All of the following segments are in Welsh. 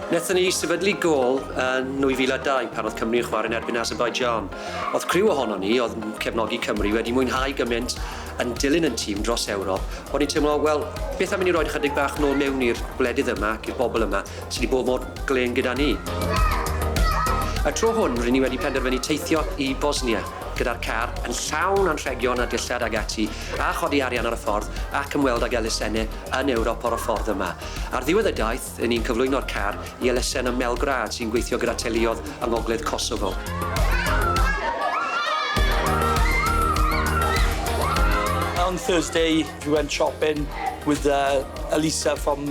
Wnaethon ni sefydlu gôl yn 2002 pan oedd Cymru yn chwarae yn erbyn Azerbaijan. Oedd criw ohonon ni oedd yn cefnogi Cymru wedi mwynhau gymaint yn dilyn yn tîm dros Ewrop, o'n i'n teimlo, wel, beth am i ni roid ychydig bach nôl mewn i'r gwledydd yma ac i'r bobl yma? sy wedi bod mor glên gyda ni. Y tro hwn, ry'n ni wedi penderfynu teithio i Bosnia gyda'r car yn llawn anrhegion a dillad ag ati, a chodi arian ar y ffordd ac ymweld ag elusenni yn Ewrop ar y ffordd yma. Ar ddiwedd y daith, ry'n ni'n cyflwyno'r car i elusen ym Melgrad sy'n gweithio gyda teuluoedd yng ngogledd Kosovo. On Thursday we went shopping with Elisa from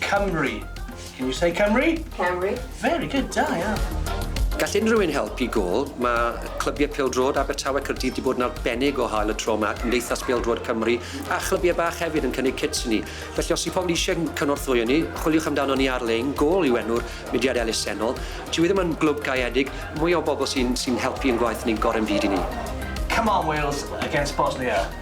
Cymru. Can you say Cymru? Cymru. Very good, da iawn. Gall unrhyw un helpu gôl. Mae clybiau pêl-droed Abertawe, Caerdydd 'di bod yn arbennig o hael y tro 'ma, Cymdeithas Bêl-droed Cymru, a chlybiau bach hefyd yn cynnig cits i ni. Felly os yw pobl eisiau cynorthwyo ni, chwiliwch amdano ni ar-lein, Gôl yw enw'r mudiad elusennol. Dyw e ddim yn glwb gaeedig, mwy o bobl sy'n sy'n helpu ein gwaith ni'n gorau'n byd i ni. Come on Wales against Bosnia.